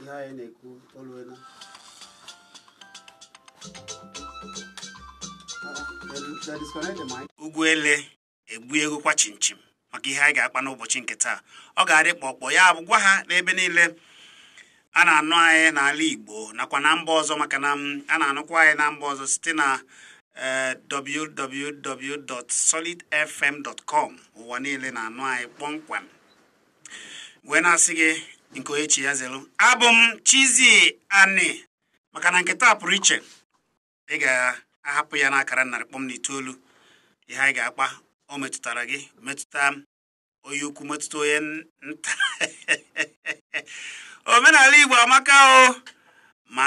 ihe anyị na-ekwu oluena ugwu ele egbu ego kwa chimchim maka ihe anyị ga-akpa n'ụbọchị nke taa ọ ga-adị kpọkpọ ya bụ gwa ha n'ebe niile a na-anụ anyị n'ala Igbo nakwa na mba ọzọ maka na a na-anụkwa anyị na mba ọzọ site na eh, www.solidfm.com ụwa niile na-anụ anyị kpọmkwem wee na-asị gị nke onye chi ya zelu abụ m Chizzy Ani maka na nke taa pụrụ iche ị ga-ahapụ ya n'akara narị kpọm na itoolu ihe anyị ga-akpa o metụtara gị metụta onye ukwu metụta onye nta omenala Igbo amaka o ma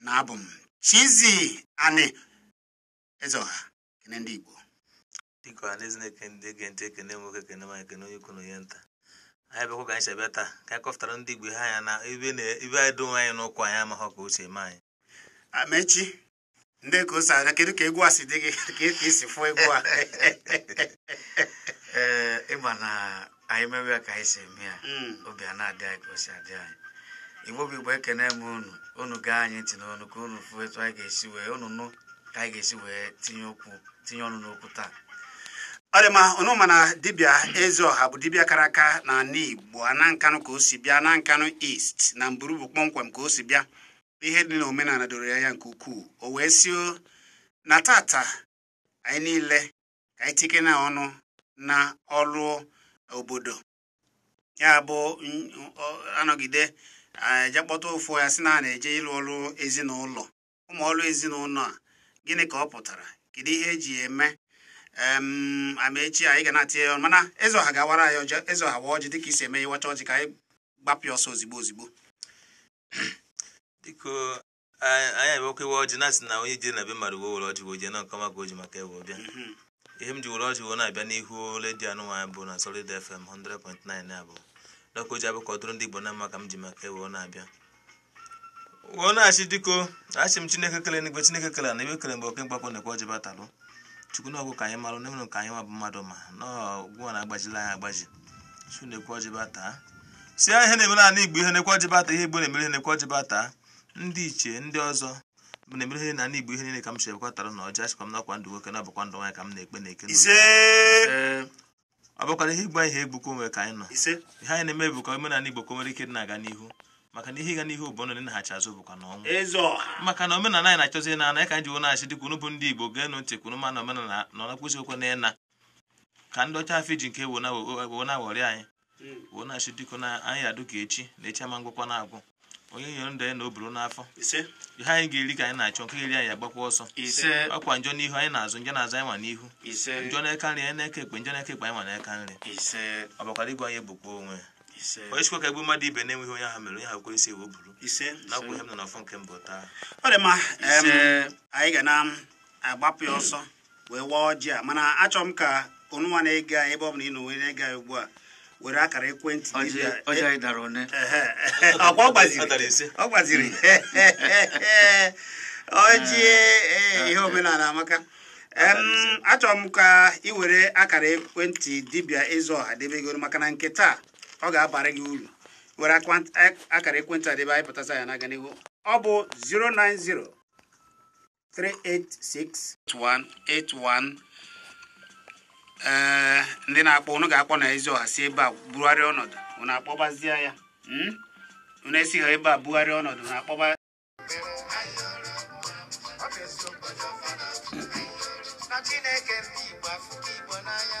na abụ m Chizzy Ani Ezeoha kene ndị Igbo dịka ọha na eze na-ekene ndị ege ntị ekene nwoke ekene nwaanyị ekene onye ukwu na onye nta anyị bịakwa ka anyị si abịa taa ka anyị kọpụtara ndị Igbo ihe anya na ibe na- ibe anyị do onwe anyị n'ụkwụ anyị amaghọ ka o si eme anyị amechi ndị ka o si abịa kedu ka egwu a si dị gị ka ka e si fụọ egwu a ee ịma na anyị mewe ka anyị si eme ya hmm. obi a na-adị anyị ka o si adị anyị igbo bụ igbo ekene m unu unu gee anyị ntị n'ọnụ ka unu fụ etu anyị ga-esi wee unu nụ ka anyị ga-esi wee tinye okwu tinye ọnụ n'okwu taa ọ dị mma unu ma na dibịa ezeọha bụ dibịa kara aka na ala igbo na nkanụ ka o si bịa na nkanụ east na mburu bụ kpọmkwem ka o si bịa ihe dị n'omenala doro ya anya nke ukwuu o wee sị na tata anyị niile ka anyị tike na ọnụ na ọrụ obodo ya bụ a nọgide je akpọta ofu ya sị na a na-eje ịlụ ọrụ ezinụlọ ụmụ ọrụ ezinụlọ a gịnị ka ọ pụtara kedu ihe e ji eme amaechi anyị ga na-atinye ya mana eze ọha ga-awara anyị ọjị eze ọha wa ọjị dịka i si eme ị wachaa ọjị ka anyị gbapịa ọsọ ozigbo ozigbo anyị abịakwa ịwa ọjị na-asị na onye jere na be mmadụ wee were ọjị wee jee na nkọma ka o ji maka ewe bịa mhm. ihe m ji were ọjị wee na-abịa n'ihu redio anụnwaanyị bụ na Solid FM 100.9 abụ dọka o ji abụ ka ọ dụrụ ndị Igbo na mma ka m ji maka ewe na-abịa wee na-achị dịko achị m Chineke kele n'igwe Chineke kele na ebe kele mgbe oke mkpakpọ na-ekwe ọjị batalụ chukwu na ọgwụ ka anyị marụ n'enwere ka anyị nwa bụ mmadụ ma na ọgwụ na-agbajila anyị agbaji chukwu na-ekwe ọjị bataa si ihe na-eme n'ala Igbo ihe na-ekwe ọjị bata ihe Igbo na-emere ihe na-ekwe ọjị bataa ndị ichie ndị ọzọ na-emere ihe na ndị Igbo ihe niile ka m si ekwe tara na ọjị achịkwa m nakwa ndụ nwoke na ọ bụkwa ndụ nwaanyị ka m na-ekpe na eke ọ bụkwara ihe ịgba ihe egbukọ onwe ka anyị nọ ihe anyị na-eme bụ ka omenala Igbo ka o nwere ike dị na-aga n'ihu maka na ihe ịga n'ihu bụ ndụ naghachi azụ bụkwa na ọnwụ maka na omenala anyị na-achọzi na ana ka anyị ji wụ na-achị dịka unu bụ ndị Igbo geenụ ntị kwuru ma na omenala nọ na kwụsị okwe na ịna ka ndị ọcha afọ iji nke wo na-aghọrị anyị wee na-asị biko na anyị adụ ka echi na echi ama ngwụkwa na-agwụ onye nyere ndụ ya na o buru n'afọ ihe anyị ga-eri ka anyị na-achọ nke eri anyị agbakwa ọsọ ọkwa njọ n'ihu anyị n'azụ njọ n'azụ anyị nwa n'ihu njọ n'eka nri anyị n'eka ekpe njọ n'eka ekpe anyị nwa n'eka nri ọ bịakwara igbu anyị egbukwa onwe onye sịkwa ka egbu mmadụ ibe na-enweghị onye ahụ mere onye ahụ were isi wee buru nakwa ihe m nọ n'afọ nke mbụ taa ọ dị mma anyị ga na-agbapụ ya ọsọ wee waa ọjị a mana achọ m ka onụnwa na-ege anyị ebe ọ bụla ị nọ wee na-ege anyị ugbu a were akara ekwentị ọ gbaziri ọjị eh, ihe omenala amaka achọrọ m ka ị were akara ekwentị dibịa eze ọha debegoro maka na nke taa ọ ga-abara gị uru were akara ekwentị a debe anyị pụtasa ya na-aga n'ihu ọ bụ 090 386 8181 ee ndị na-akpọ unu ga-akpọ na eze ọha si ebe a bugharịa ọnọdụ unu akpọbazie ya hmm? unu esi ha ebe a bugharịa ọnọdụ unu akpọba Chineke ndị Igbo afụ Igbo n'anya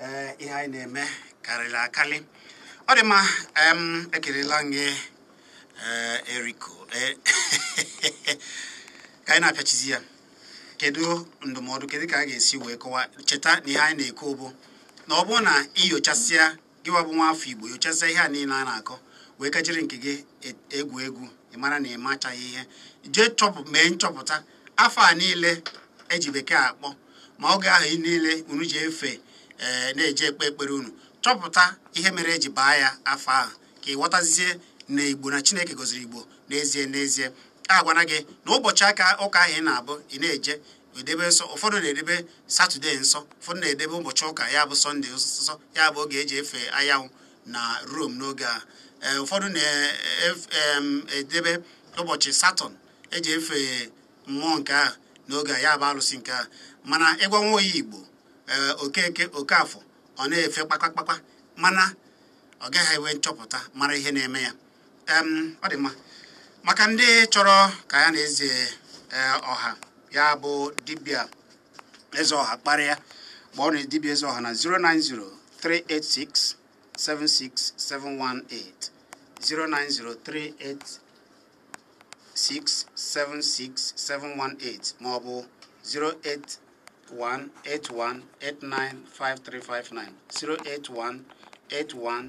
ee ihe anyị na-eme karịrị akarị ọ dị mma ekelela m gị eh, eriko eh, ka anyị na-apịachizi ya kedu ndụmọdụ kedu ka a ga-esi wee kọwa cheta na ihe anyị na-ekwu bụ na ọ bụrụ na i nyochasịa gị wa bụ nwa afọ igbo nyochazie ihe a niile a na-akọ wee ka jiri nke gị e, egwu egwu ị mara na ị machaghị ihe jee chọpụ mee nchọpụta afa a niile eji bekee akpọ ma oge ahụ niile unu ji efe ee eh, na-eje ekpe ekpere unu chọpụta ihe mere eji baa ya afa ahụ ka ị ghọtazie na igbo na chineke gọziri igbo n'ezie n'ezie a gwana gị na ụbọchị ụka ahụ ị na-abụ ị na-eje edebe nsọ ụfọdụ na-edebe satọde nsọ ụfọdụ na-edebe ụbọchị ụka ya bụ sọnde nsọ ya bụ oge eji efe anyanwụ na rom n'oge a e, ụfọdụ na-edebe e, e, ụbọchị satọn eji efe mmụọ nke a n'oge a ya bụ alụsị nke a mana ị gwa nwa onye igbo okeke okafọ ọ na-efe kpakpakpakpa mana ọ gaghị enwe nchọpụta mara ihe na-eme ya ọ dị mma maka ndị chọrọ ka ya na eze e, ọha ya bụ dibịa eze ọha kparịa kpọọnụ dibịa eze ọha na 09038676718 09038676718 ma ọ bụ 08181895359 08181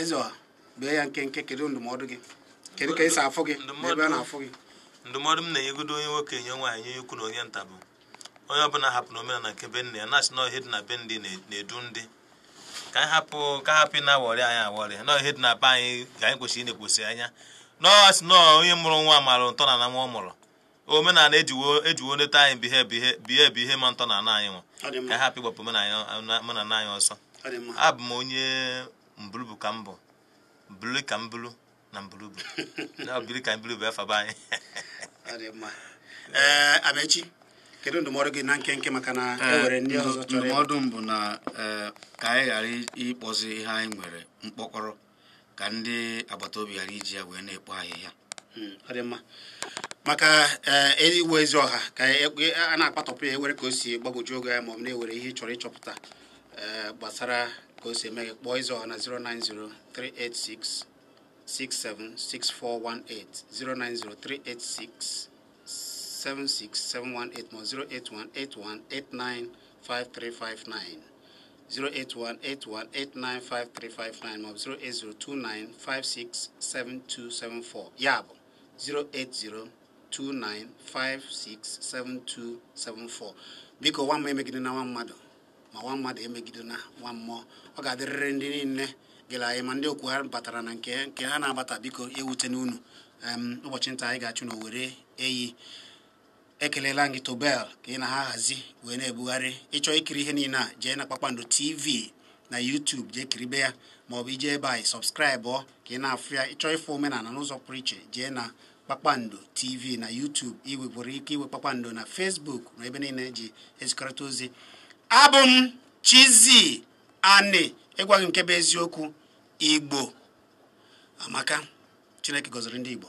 Ezeọha bee ya nkenke kedu ndụmọdụ gị kedu ka esi afụ gị ebe a na-afụ gị ndụmọdụ m na-enyegodo onye nwoke onye nwaanyị onye ukwu na onye nta bụ onye ọbụla hapụna omenala nke be nne ya na-asị na ihe dị na be ndị na-edu ndị ka anyị hapụ ka hapụ na awọrị anyị awọrị na ihe dị na be anyị ka anyị kwesịrị ịna-ekwesị anya na ọ sị na onye mụrụ nwa mara ntọ na ana nwa ọ mụrụ omenala ejiwo ejiwo nleta anyị bihe bihe bihe bụ ihe ma ntọ na ana anyị nwa ka anyị hapụ ịgbapụ omenala anyị ọsọ abụ m onye Mbulubu ka mbụ bulu ka m bulu na Mbulubu na biri ka mbulubu efa be anyị ee Amechi kedu ndụmọdụ gị na nkenke maka na e nwere ndị ọzọ chọrọ ndụmọdụ m bụ na ka anyị ghara ịkpọzi ihe anyị nwere mkpọkọrọ ka ndị agbata obi ghara iji ya wee na-ekpo ahịhịa hmm, ọ dị mma maka eh, igwe Ezeọha ka e, e, a na-akpatọpụ ya e nwere ka o si gbagwoju gị anya ma ọ bụ na e nwere ihe ị chọrọ ịchọpụta eh, gbasara ka o si eme gị kpọọ Ezeọha na 090386676418 09038676718 08181895359 08181895359 maọbụ 08029567274 ya bụ 08029567274 biko nwa mmụọ emegidena nwa mmadụ ma nwa mmadụ emegidena nwa mmụọ ọ ga-adịrịrị ndị niile gere anyị ma ndị okwu ha batara na nke nke ha na-abata biko ewutena unu ụbọchị nta anyị ga-achụ n'owere eyi ekelela gị tobel ka ị na-ahazi wee na-ebugharị ị chọọ ikiri ihe niile a jee na kpakpando tv na YouTube jee kiribe ya maọbụ i jee ebe ahụ ị subscribe ka ị na-afụ ya ị chọọ ịfụ omenala n'ụzọ pụrụ iche jee na kpakpando tv na YouTube i nwekwara ike iwe kpakpando na Facebook na ebe niile eji ezikọrịta ozi abụ m Chizzy Ani ịgwa gị nke bụ eziokwu Igbo amaka Chineke gọziri ndị Igbo